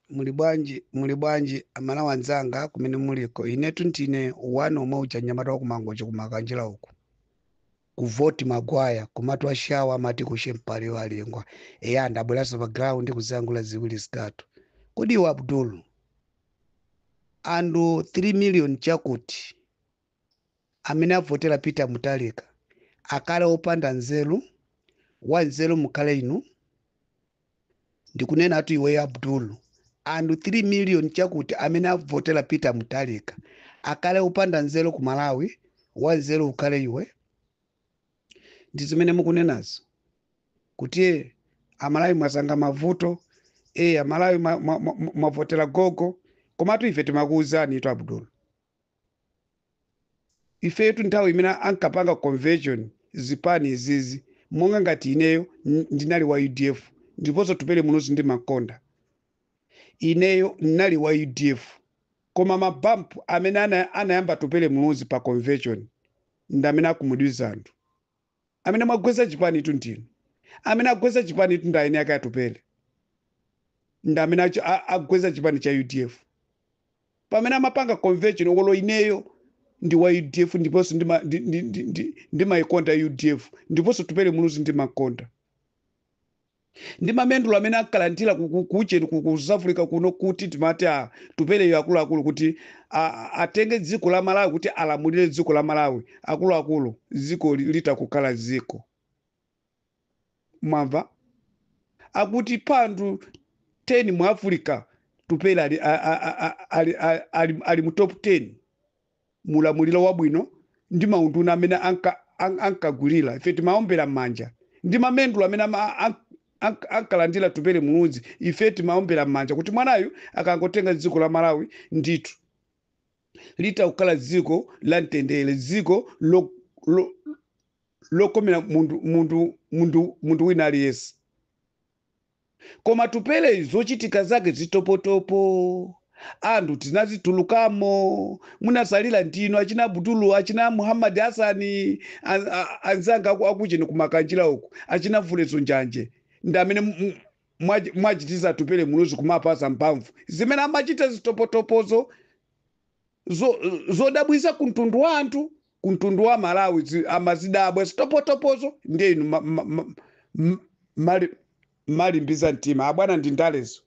muli bwanji muli bwanji amalawi anzanga kumene muliko inetu ndine wanu yemwe uja mnyamata wakumangochi kumakanjira uku ku Fort Maguire komatu ashawa amati kushe mpale walengwa eya ndabweranso pa ground kuzalankhula ziwiri zitatu kodi iwe abdul anthu 3 million chakuti amene avotera peter mutharika akhale opanda nzeru wa nzeru mukhale inu ndikunenatu iweyo abdul anthu 3 million chakuti amene avotera peter mutharika akhale opanda nzeru ku malawi wa nzeru ukhale iwe ndi zimene mukunenazo kuti eh, amalawi mwasankha mavuto eh, amalawi mwavotera ma, ma, ma, mwavotera gogo komatu ife timakuwuzanitu abdul ifetu nthawi imene ankapanga convention zipani izizi monga ngati ineyo n- ndinali wa udf ndiponso atupele muluzi ndimamukonda ineyo ndinali wa udf koma mabampu amene ana, anayamba atupele muluzi pa convention ndi amene akhumudwitsa anthu amene mwagwetsa chipanitu ndinu amene agwetsa chipanitu ndi eni ake atupele ndi amene achi- a- agwetsa chipani cha udf pamene amapanga convention olo ineyo ndi wa udf ndiponso ndima- ndi- ndi- ndi- ndi- ndimayikonda udf ndiponso atupele muluzi ndimamukonda ndi mamedulo amene ankalandira ku- ku- kucheni ku ku South Africa kuno kuti timati atupeleyo akuluakulu kuti a- a- atenge dziko la Malawi kuti alamulire dziko la Malawi akuluakulu dziko li- lidzakhala dziko mwamva akuti pa anthu 10 mu Africa atupele ali, a- a- a- a- ali, a- ali, ali mu top 10 mu ulamuliro wabwino ndi maunduna amene anka- an- ankagwirira ife timaombera m'manja ndi mamedulo amene ama- an- an- ankalandira atupele muluzi ife timaombera m'manja kuti mwanayu akangotenga dziko la malawi ndithu lidzakhala dziko la mtendere dziko lo- lo- lokomera munthu munthu munthu munthu wina aliyense Koma Atupeleyu zochitika zake zitopotopo. Anthu tinazitulukamo, munatsalira ndinu achina Abudulu, achina Muhammad Hassan, an- a- anzanga aku- akucheni kumakanjira uku, achina Mfulezo Njanje ndi amene mu- mu- mwachi- mwachititsa Atupele Muluzi kumampatsa mphamvu zimene amachita zitopotopozo zo, zodabwitsa ku mtundu wa anthu ku mtundu wa malawi zi- amazidabwa zitopotopozo ndiye inu ma- ma- ma- m- mali- malimbitsa mtima abwana ndi ndalezo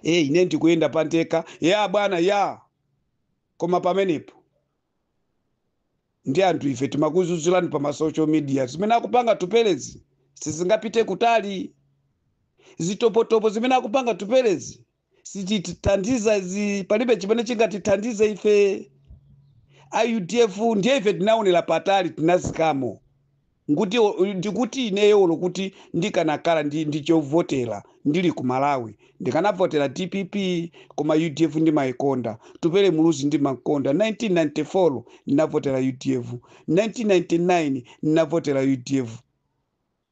e ine ndikuyenda pandekha ya abwana ya koma pamenepo ndi anthu ife timakudzudzulani pa ma social media zimene akupanga Atupelezi sizingapite kutali zitopotopo zimene akupanga Atupelezi sizitithandiza izi palibe chimene chingatithandize ife a udf ndiye ife tinaonera patali tinazikamo nguti ndikuti ineyo olo kuti ndikanakhala ndi, ndi chovotera ndili ku malawi ndikanavotera dpp koma udf ndimayikonda Atupele Muluzi ndimamukonda 1994 ndinavotera udf 1999 ndinavotera udf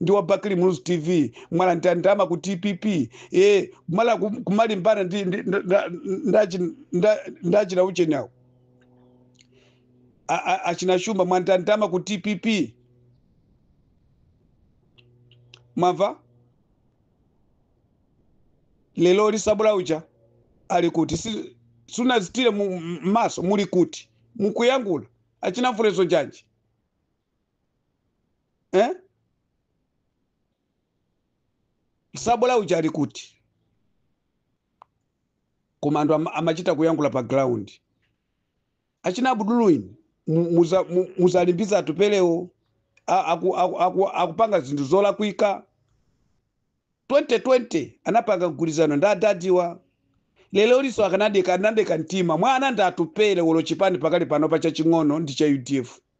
ndi wa bakili muluzi tv mwalandira ndalama ku dpp e kumala kum- kumalimbana ndi ndi- nda- nda- ndachi- nda- ndachina ujeni awo A- a- achina shumba mwalandira ndalama ku dpp mwamva lero liso tsabola uja ali kuti si- sunadzithire mu- m'maso muli kuti mukuyankhula achina mfulezo chanji eh? tsabola uja ali kuti koma anthu ama- amachita kuyankhula pa ground achina Abdul inu mu- muza- mu- muziwalimbitsa atupelewo a- aku- aku- aku- akupanga zinthu zolakwika 2020 anapanga mgwirizano ndi adadi awa lero liso akanadeka anadeka mtima mwana ndi atupele olo chipani pakali pano pa chaching'ono ndi cha udf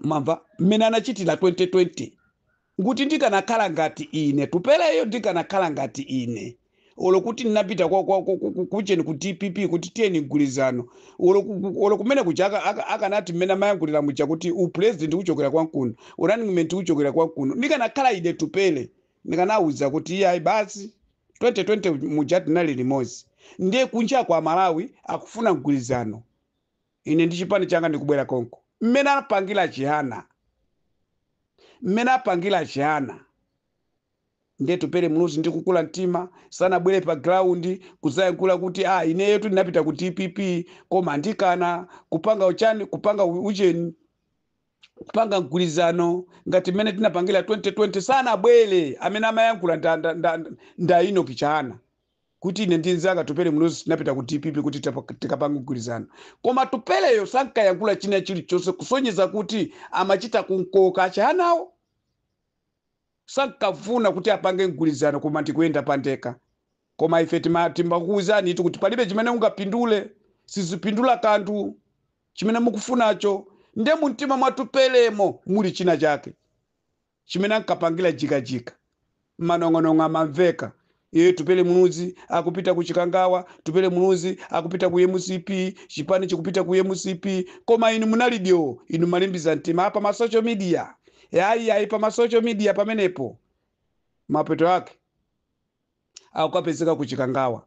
mwamva mmene anachitira 2020 nguti ndikanakhala ngati ine tupeleyo ndikanakhala ngati ine olo kuti ndinapita kwa- kwa- ku- ku- ku- kujeni ku dpp kuti tiyeni mgwirizano olo ku- ku- olo kumene kuja aka- aka- akanati mmene amayankhulira muja kuti upulezidenti uchokera kwanu kuno u-running mate uchokera kwanu kuno ndikanakhala ine tupele ndikanawuza kuti iyayi basi 2020 muja tinali limodzi ndiye kunja kwa malawi akufuna mgwirizano Ine ndi chipani changa ndikubwera konko. Mmene anapangira Chihana, mmene anapangira Chihana nde Atupele Muluzi ndi kukula mtima sanabwere pa ground kudzayankhula kuti ah, ineyotu ndinapita ku dpp koma andikana kupanga ujeni kupanga u- ujeni kupanga mgwirizano ngati mmene tinapangira 2020 sanabwere amene amayankhula nda, nda, nda, nda Enoch Chihana kuti ine ndi nzanga tupele muluzi tinapita ku dpp kuti tapa- tikapange mgwirizano koma tupeleyo sankayankhula china chilichonse kusonyeza kuti amachita kunkoka achihanawo sankafuna kuti apange mgwirizano koma ndikuyenda pandekha koma ife tima- timakuwuzanitu kuti palibe chimene ungapindule sizipindula kanthu chimene mukufunacho nde mumtima mwatupelemo muli china chake chimene ankapangira jikajika. Manong'onong'o amamveka. Ee Tupele Muluzi akupita ku Chikangawa, Tupele Muluzi akupita ku mcp, chipani chikupita ku mcp. Koma inu munali dyoo, inu mmalimbitsa mtima pa ma social media. E ayi ayi pa ma social media pamenepo. Mapeto ake akukapezeka ku Chikangawa.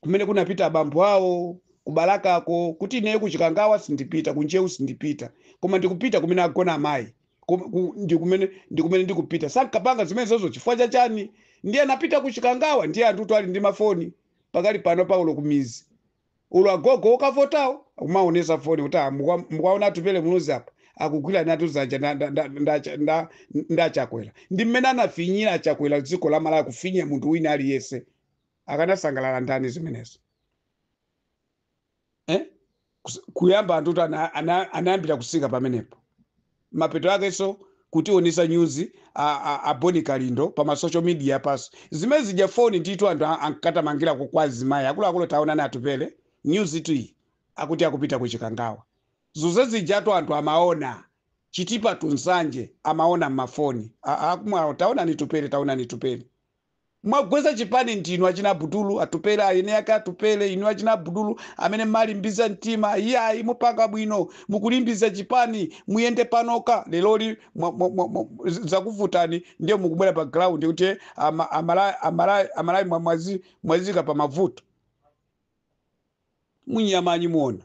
kumene kunapita abambo awo ku Balakako kuti ineyo ku Chikangawa sindipita, ku Ntcheu sindipita, koma ndikupita kumene agona amayi kum- ku- ndi kumene ndi kumene ndikupita. Sankapanga zimenezozo chifukwa cha chani? Ndiye anapita ku Chikangawa, ndiye anthutu ali ndi mafoni pakali pano olo kumidzi olo agogo okavotawo akumaonesa foni kuti "Ah, mukwa- mukuwaona atupele muluzi apa akugwiranatu dzanja nda- nda- nda- nda- nda- nda chakwera ndi mmene anafinyira achakwera dziko la malawi kufinya munthu wina aliyense akanasangalala ndani zimenezo eh? Kus- kuyamba anthu kuti ana- ana- anayambira kutsika pamenepo mapeto akenso kutionesa nyuzi a- a- a boni kalindo pa masocial media paso zimene zija foni ndithu anthu a- ankatamangirako kwa azimayi akuluakulu taonani atupele nyuzi iyi akuti akupita ku chikangawa zonse zijatu anthu amaona chitipa to nsanje amaona mmafoni A- akumwawo taonani tupele taonani tupele Mwagwetsa chipani ndinu achina abudulu, atupele, eni ake atupele, inu achina abudulu amene mmalimbitsa mtima iyayi mupanga bwino mukulimbitsa chipani muyende panokha leroli mwa, mwa, mwa, mwa, zakuvutani ndiye mukubwera pa ground kuti eh, ama, amalawi, amalawi, amalawi mwa- mwazi, mwaziika pa mavuto munya manyi muona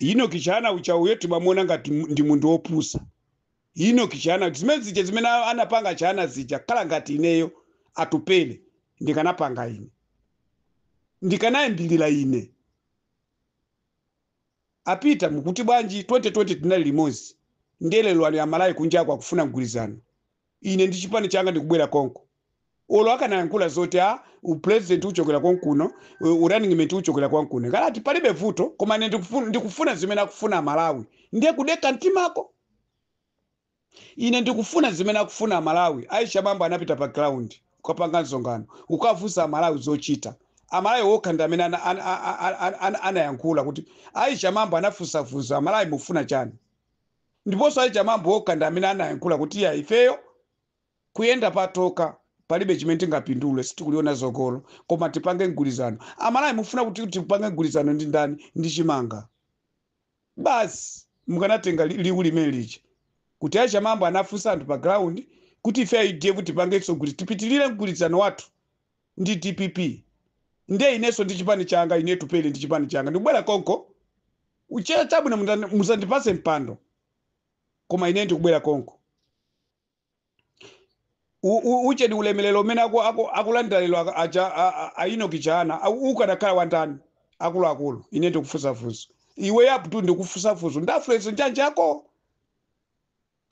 enock chihana uja uyo timamuona ngati mu- ndi munthu wopusa enock chihana zimene zija zimene a- anapanga chihana zija khala ngati ineyo atupele ndikanapanga ine ndikanayambirira ine a peter mukuti bwanji 2020 tinali limodzi nde lero lino amalawi kunjako akufuna mgwirizano Ine ndi chipani changa ndikubwera konko. Olo akanayankhula zoti a u president uchokera kwanu kuno, u running mate uchokera kwanu kuno. Nkanati palibe vuto koma ine ndikufu- ndikufuna zimene akufuna Amalawi. Ndiye kudekha mtimako. Ine ndikufuna zimene akufuna Amalawi. Aisha Mambo anapita pa ground kukapanga msonkhano, kukafunsa Amalawi zochita. Amalawi okha ndi amene ana- ana- a- a- a- ana- anayankhula kuti Aisha Mambo anafunsa funso Amalawi mufuna chani? Ndipo osati Chimwendo okha ndi amene anayankhula kuti iyayi ifeyo kuyenda patokha palibe chimene tingapindule sitikuliona tsogolo koma tipange mgwilizano. Amalawi mufuna kuti tipange mgwilizano ndi ndani? Ndi chimanga basi? Mukanatenga liwu limene lija kuti a Chimwendo anafunsa anthu pa ground kuti ife a udf tipangenso tipitilire mgwilizano wathu ndi dpp ndiye inenso ndi chipani changa ine Atupele ndi chipani changa ndikubwera konko. U chair, chabwino mutha musandipase mpando koma ine ndikubwera konko. U, u, uchedi ulemelero umene aku, aku, akulandira lero aka- aja a, a, a Enoch Chihana au- ukadakhala wandani akuluakulu ine ndikufunsa funso iwe yaputu ndikufunsa funso ndafuleso njanja yako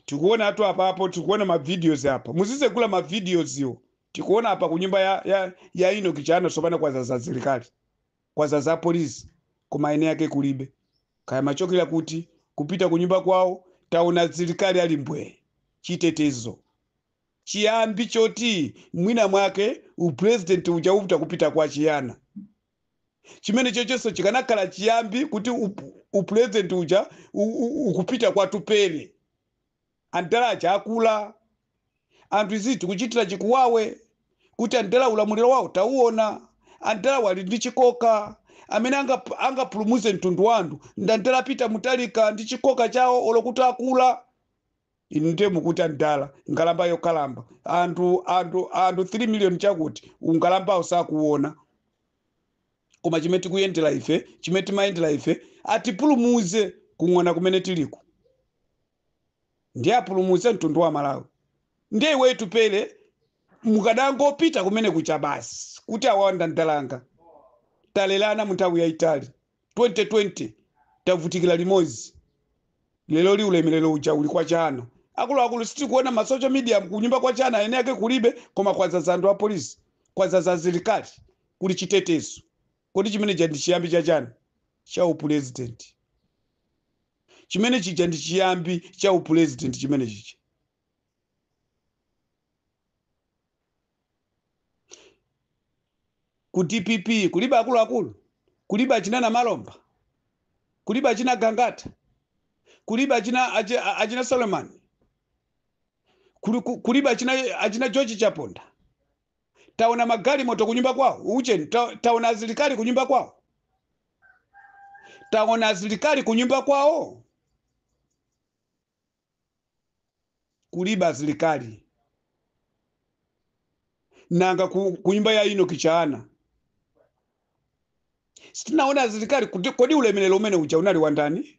tikuona atu apapo tikuona mavideos apa muzizegula mavideos iwo tikuona apa kunyumba ya, ya, ya Enoch Chihana sopano kwazaza asilikali kwazaza apolice koma eni ake kulibe kaya amachokera kuti kupita kunyumba kwawo taona atsilikali ali mbwee chitetezo chiyambi choti mwina mwake upresident uja upta kupita kwa Chihana chimene chochonso chikanakhala chiyambi kuti up- upresident uja u- u- ukupita kwa Atupele Adala aja akula, anthu izizi tikuchitira chikuwawe kuti adala ulamuliro wawo tauona, adala awa ali ndi chikoka, amene angap, angapulumuze mtundu wa anthu ndi adala a Peter Mutharika ndi chikoka chawo olo kuti akula. Inu ndiye mukuti adala, nkhalamba yokalamba, anthu anthu anthu 3 million chakuti unkhalambawo sakuuona. koma chimene tikuyendera ife chimene timayendera ife atipulumuze kung'ona kumene tiliku ndiye apulumuze mtundu wa malawi ndiye iweyo Atupele mukadangopita kumene kuja basi kuti awanda ndalanga talelana mu nthawi yayitali 2020 tavutikira limodzi lero li ulemerero uja uli kwa Chihana akuluakulu sitikuona ma social media kunyumba kwa Chihana eni ake kulibe koma kwazaza anthu a polisi kwazaza asilikali kuli chitetezo. Kodi chimene chija ndi chiyambi cha chani? Cha upulezidenti. Chimene chija ndi chiyambi cha upulezidenti chimene chija. Ku DPP kulibe akuluakulu, kulibe achina Namalomba, kulibe achina Gangata, kulibe achina achi- a- achina Solomon, kuli- ku- kulibe achina achina George Chaponda. taona magalimoto kunyumba kwawo ucheni ta, taona asilikali kunyumba kwawo taona asilikali kunyumba kwawo kulibe asilikali nanga ku, kunyumba ya Enoch Chihana sitinaona asilikali kuti kodi ulemerero umene uja unali wandani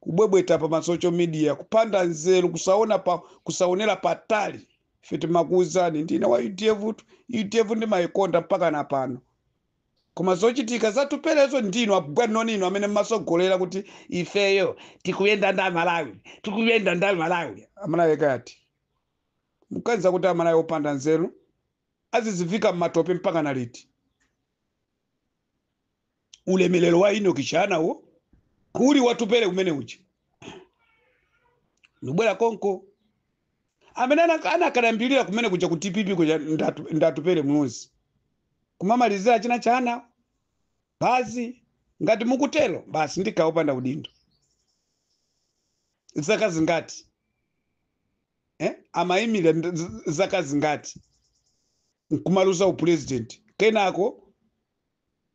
kubwebweta pa masocial media kupanda nzeru kusaona pa kusaonera patali ife timakuuzani ndine wa udf tu udf ndimayikonda mpaka na pano koma zochitika za Atupelezo ndinu a Bwanoni inu amene mmasogolera kuti ifeyo tikuyenda ndi amalawi tikuyenda ndi amalawi amalawi kuganiza kuti amalawi opanda nzeru azizivika mmatope mpaka na liti ulemerero wa Enock Chihanawo uli wa Atupele umene uja ndibwera komweko amene ana- anakalambirira kumene kuja ku dpp kuja ndatu- ndi Atupele Muluzi kumamalizira china Chihana basi ngati mukutero basi ndi kawopanda udindo zaka zingati eh? amayimira nd- z- zaka zingati nkumaluza upulezidenti kenako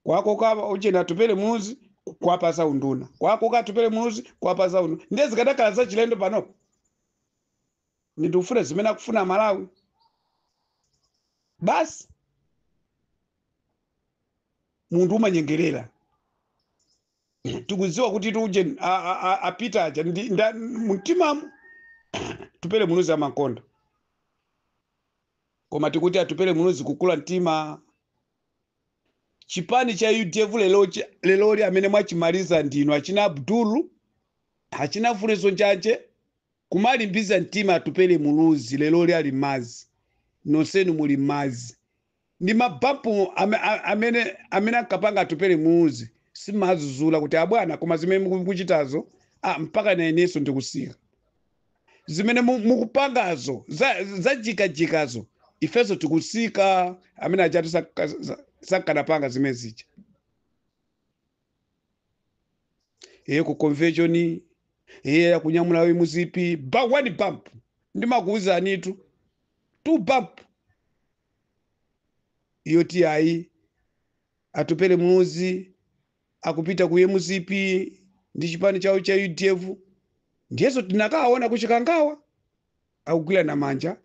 kwakoka ujeni atupele muluzi kwapasa unduna kwakoka atupele muluzi kwapasa unduna ndiye zikadakhala zachilendo panopo ndikufuna zimene akufuna malawi basi munthu umamunyengerera tikudziwa kuti aujeni apita aja ndi- nda- mumtimamu Atupele muluzi amakonda koma tikuti atupele muluzi kukula mtima chipani cha udf lelochi- leloli amene mwachimaliza ndinu achina abdulu achina Funsani Njanje kumalimbiza mtima atupele muluzi leloli ali mmadzi nonsenu muli mmadzi ndi mabampu ame- a- amene amene ankapanga atupele muluzi simadzudzula kuti abwana koma zimene mukuchitazo ah, mpakana inenso ndikutsika zimene mu- mukupangazo za- zajikajikazo ifenso tikutsika amene achatu saka- sa- sakanapanga zimene zija iye ku convention iye akunyamula Vuwa muzipi ba one bump ndimakuuzanitu two bump iyo ati ayi atupele muluzi akupita ku mcp ndi chipani chawo cha udf ndiyenso tinakaona ku chikangawa akugwirana manja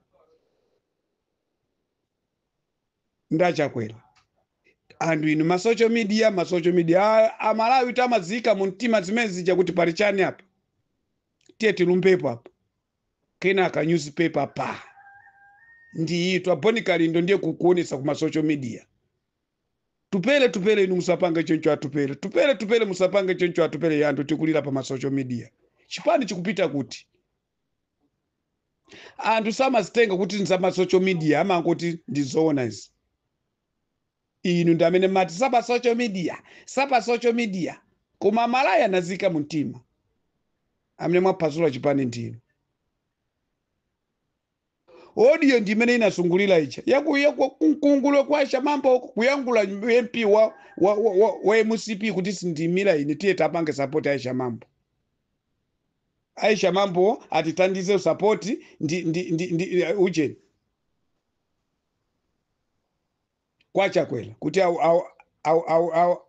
ndi achakwera anthu inu ma social media ma social media a- amalawi tamazikani mtima zimene zija kuti pali chani apa tiye tilumbepo apa kenaka newspaper pa ndi ichi wa Bon Kalindo ndiye kukuonesa kuma social media tupele tupele inu musapange choncho atupele tupele tupele musapange choncho atupele yandu tikulira pa ma social media chipani chikupita kuti anthu samazitenga kuti ndi za ma social media amangoti ndi zoona izi inu ndi amene mati si za pa social media si za pa social media koma amalawi anaziika mu mtima amene mwaphwasula chipani ndinu audio ndi imene inasungulira ija yaku yaku kunkungulo kwa shamamba uko kuyangula mp wa wa, wa, wa, wa mcp kuti sindimira ine tiye tapange sapoti aisha mambo aisha mambo atithandize usapoti ndi, ndi, ndi, ndi uh, ujeni kwa chakwera kuti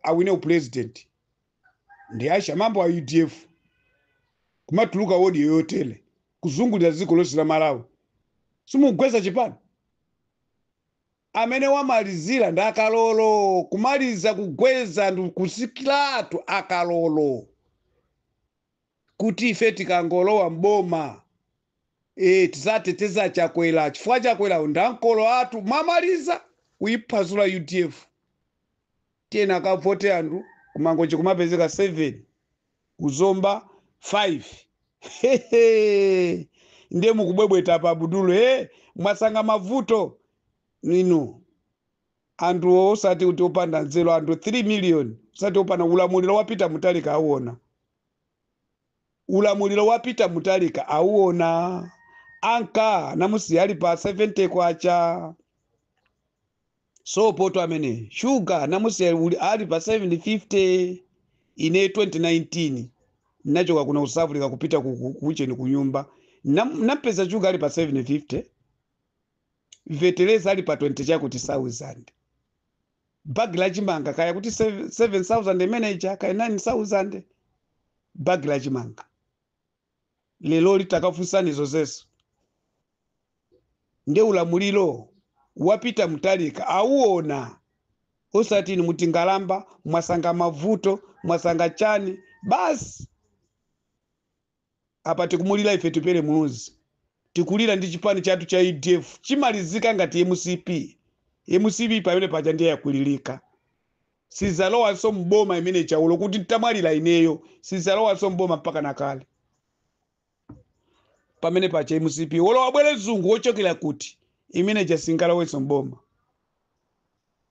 awine upulezidenti ndi ashamambo a udf kumatuluka wodiyo yotele kuzungulira dziko lonse la malawi simugwetsa chipani amene wamalizira ndi akalolo kumaliza kugwetsa ndi kutsikiratu akalolo kuti ife tikangolowa m'boma e, tidzateteza Chakwera chifukwa Chakwera ndi mkulu wathu mwamaliza kuyiphwasula UDF tiyeni akavote anthu kumangochi kumapezeka 7 kuzomba 5 ndiye mukubwebweta pa budulo e, mwasankha mavuto ndinu Anthuwo osati kuti opanda nzeru anthu 3 million osati opanda nzeru ulamuliro wa Peter Mutharika auona ulamuliro wa Peter Mutharika auona ankanamusiya ali pa 70 kwacha sopotu amene shuga anamusiya uli- ali pa 750 ine 2019 nachoka kuno South Africa kupita ku- ku- kucheni kunyumba Nam- nampeza shuga ali pa 750 feteleza ali pa 20 chakuti thousand bagi la chimanga kaya kuti 7000 imene ija kaya 9000 bagi la chimanga lero litakafunsani zonsezi nde ulamuliro wa Peter Mutharika awuona osati inu mukungolemba mwasankha mavuto mwasankha chani basi Apa tikumulira ife Atupele Muluzi, tikulira ndi chipani chatu cha udf chimalizike ngati mcp, mcp pamene paja ndiye yakwiririka sizalowanso m'boma imene ija olo kuti ntamwalira ineyo sizalowanso m'boma mpaka kale pamene paja mcp olo abwere mzungu wochokera kuti imene ija singalowenso m'boma.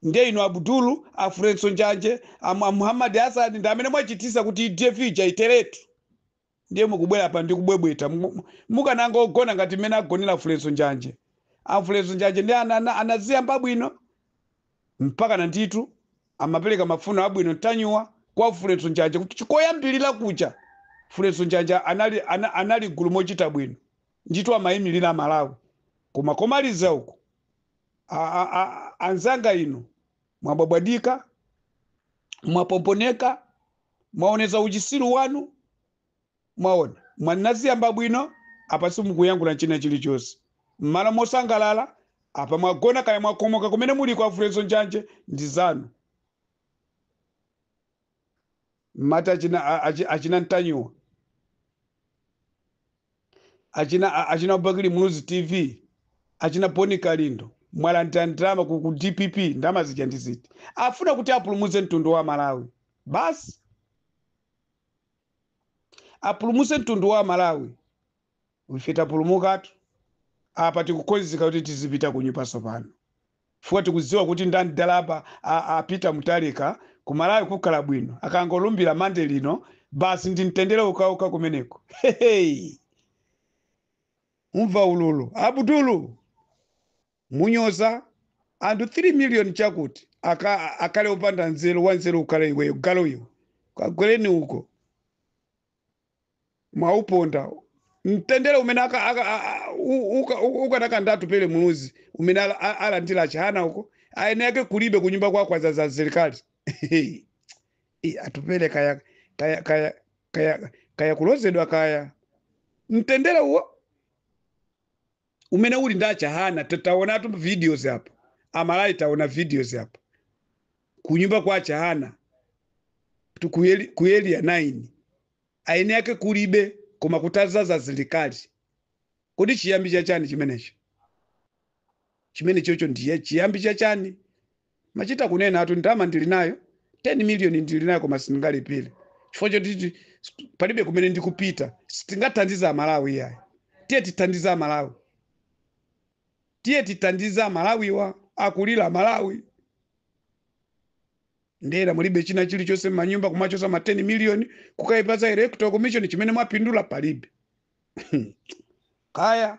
Ndiye inu Abdul, a Fredson Njanje, a Mu- a Muhammad Hassan ndi amene mwachitisa kuti UDF ija iteretu. Ndiye mukubwera apa ndi kubwebweta. Mu- mu- Mukanangogona ngati mmene agonera Fredson Njanje. A Fredson Njanje ndi ana- ana- anaziyamba bwino mpakana ndithu timapereka mafuno abwino mtanyuwa kwa Fredson Njanje kuti chikoyambirira kuja Fredson Njanje anali ana- anali gulu mochita bwino. Ndithu amayimirira Malawi. Koma komaliza uku a- a- a- anzanga inu mwabwabwadika mwapomponeka mwaonetsa uchitsiru wanu mwaona mwanaziyamba bwino apa simukuyankhula china chilichonse mmalo mosangalala apa mwagona kaya mwakomoka kumene muli kwa Fulgencio Njanje ndi zanu mmati achina a- achi- achina ntanyiwa achina a- achina bakili muluzi tv achina bon kalindo mwalandira ndalama ku, ku dpp ndalama zija ndi ziti amafuna kuti apulumutse mtundu wa malawi basi apulumutse mtundu wa malawi Ife tapulumukatu. Apa tikukonzeka kuti tizipita kunyumba tsopano. Chifukwa tikudziwa kuti ndi mdala apa a a Peter Mutharika ku Malawi kukhala bwino akangolumbira Monday lino basi ndi mtendere wokhawokha kumeneko. Heheyi. Umva ululu. Abudulu! Munyoza anthu 3 million chakuti akhale opanda nzeru wanzeru ukhale iweyo galu iwe. Kagwereni uko. mwauponda mtendere umene aka- aka- a- a- u- uka- u- uli nawo ndi atupele muluzi umene ala- a- alandira achihana uko eni ake kulibe kunyumba kwako adzadza asilikali Ih, atupele kaya kaya kaya kaya kaya kulozedwa kaya mtendere uwo umene uli ndi achihana ta- taonatu videos apa amalawi taona videos apa kunyumba kwa achihana tu- ku Eli- ku eliya 9 eni ake kulibe koma kutadzadza asilikali kodi chiyambi chachani chimenecho chimenechocho ndiye chiyambi chachani Machita kunenatu ndalama ndili nayo 10 million ndili nayo koma sindingalipire chifukwa choti palibe kumene ndikupita. Tingathandize Amalawi iyayi. Tiye tithandize Amalawi, tiye tithandize Amalawiwa akulira Malawi. Ndalama mulibe china chilichonse m'manyumba kumachotsa ma 10 million kukayipatsa electoral commission chimene mwapindula palibe kaya